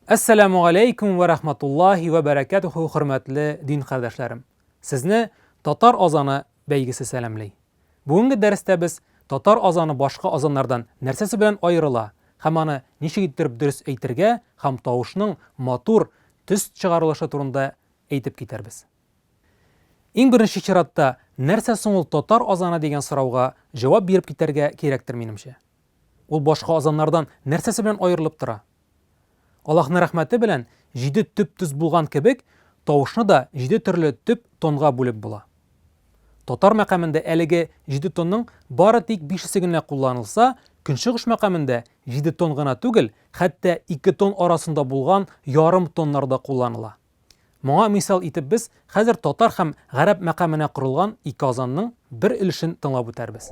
Әссәләму алейкум вә рахматуллахи вә бәрәкәтүху хөрмәтле дин кардәшләрем. Сезне татар азаны бәйгесе сәламлей. Бүгенге дәрестә без татар азаны башка азаннардан нәрсәсе белән аерыла һәм аны ничек иттереп дөрес әйтергә һәм тавышның матур төс чыгарылышы турында әйтеп китәрбез. Иң беренче чиратта, нәрсә соң ул татар азаны дигән сорауга җавап биреп китәргә кирәктер, минемчә. Ул башка азаннардан нәрсәсе белән аерылып тора? Аллаһның рәхмәте белән, җиде төп-төз булган кебек, тавышны да җиде төрле төп тонга бүлеп була. Татар мәкамендә әлеге җиде тонның бары тик бишесе генә кулланылса, көнчыгыш мәкамендә җиде тон гына түгел, хәтта ике тон арасында булган ярым тоннар да кулланыла. Моңа мисал итеп без хәзер татар һәм гарәп мәкаменә корылган ике азанның бер өлешен тыңлап үтәрбез.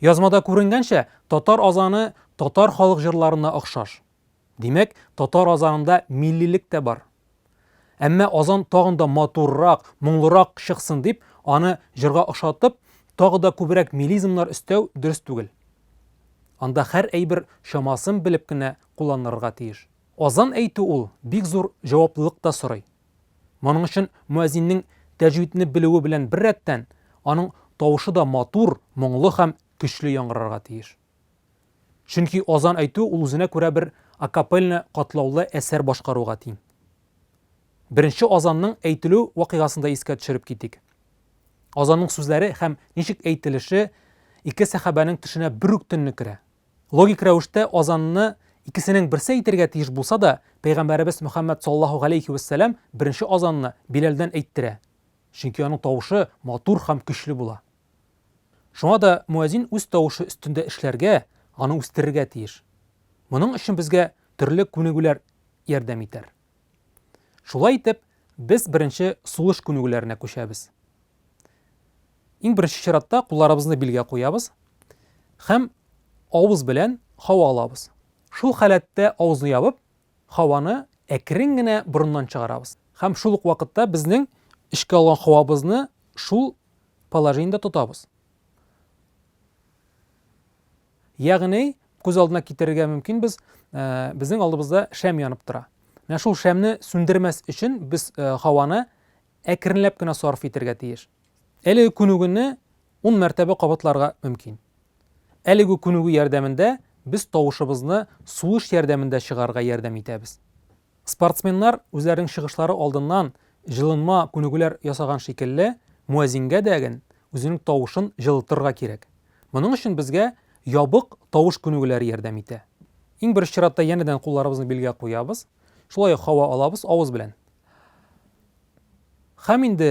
Язмада күренгәнчә, татар азаны татар халык җырларына охшаш. Димәк, татар азанында миллилек тә бар. Әмма азан тагын да матуррак, моңлырак чыксын дип, аны җырга охшатып, тагы да күбрәк мелизмнар өстәү дөрес түгел. Анда хәр әйбер чамасын белеп кенә кулланырырга тиеш. Азан әйтү ул бик зур җаваплылык та сорый. Моның өчен мөәзиннең тәҗвидне белүе белән беррәттән, аның тавышы да матур, моңлы һәм көчле яңгырарга тиеш. Чөнки азан әйтү ул үзенә күрә бер акапельно катлаулы әсәр башкаруга тиң. Беренче азанның әйтелү вакыйгасын да искә төшереп китик. Азанның сүзләре һәм ничек әйтелеше ике сәхабәнең төшенә бер үк төнне керә. Логик рәвештә азанны икесенең берсе әйтергә тиеш булса да, Пәйгамбәребез Мөхәммәд саллаллаһу галәйһи вә сәлам беренче азанны Биләлдән әйттерә, чөнки аның тавышы матур һәм көчле була. Шуңа да муәзин үз тавышы өстендә эшләргә, аны үстерергә тиеш. Моның өчен безгә төрле күнегүләр ярдәм итәр. Шулай итеп, без беренче сулыш күнегүләренә күчәбез. Иң беренче чиратта кулларыбызны билгә куябыз һәм авыз белән һава алабыз. Шул халәттә авызны ябып, һаваны әкрен генә борыннан чыгарабыз һәм шул ук вакытта безнең эчкә алган һавабызны шул положениедә тотабыз. Ягъни, күз алдына китерергә мөмкин без, э, безнең алдыбызда шәм янып тора. Менә шул шәмне сүндермәс өчен без э, һаваны әкренләп кенә сарф итәргә тиеш. Әлеге күнегүне 10 мәртәбә кабатларга мөмкин. Әлеге күнегү ярдәмендә без тавышыбызны сулыш ярдәмендә чыгарга ярдәм итәбез. Спортсменнар үзләренең чыгышлары алдыннан җылынма күнегүләр ясаган шикелле, муәзингә дәген үзенең тавышын җылытырга кирәк. Моның өчен безгә ябык тавыш күнегүләре ярдәм итә. Иң беренче чиратта янәдән кулларыбызны билгә куябыз, шулай ук һава алабыз авыз белән. Хәм инде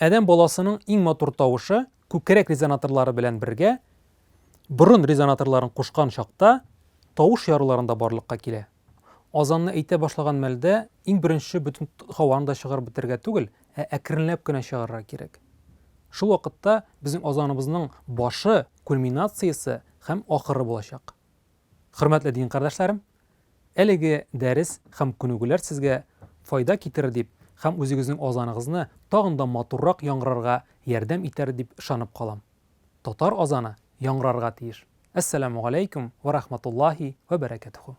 Адәм баласының иң матур тавышы күкрәк резонаторлары белән бергә борын резонаторларын кушкан чакта тавыш яруларында барлыкка килә. Азанны әйтә башлаган мәлдә иң беренче бөтен һаваны да чыгарып бетергә түгел, ә әкренләп кенә чыгарырга кирәк. Шул вакытта безнең азаныбызның башы, кульминациясе һәм ахыры булачак. Хөрмәтле дин кардәшләрем, әлеге дәрес һәм күнегүләр сезгә файда китерер дип һәм үзегезнең азаныгызны тагын да матуррак яңгырарга ярдәм итәр дип ышанып калам. Татар азаны яңгырарга тиеш. Әссәламү галәйкүм вә рахматуллаһи вә бәрәкәтүһү.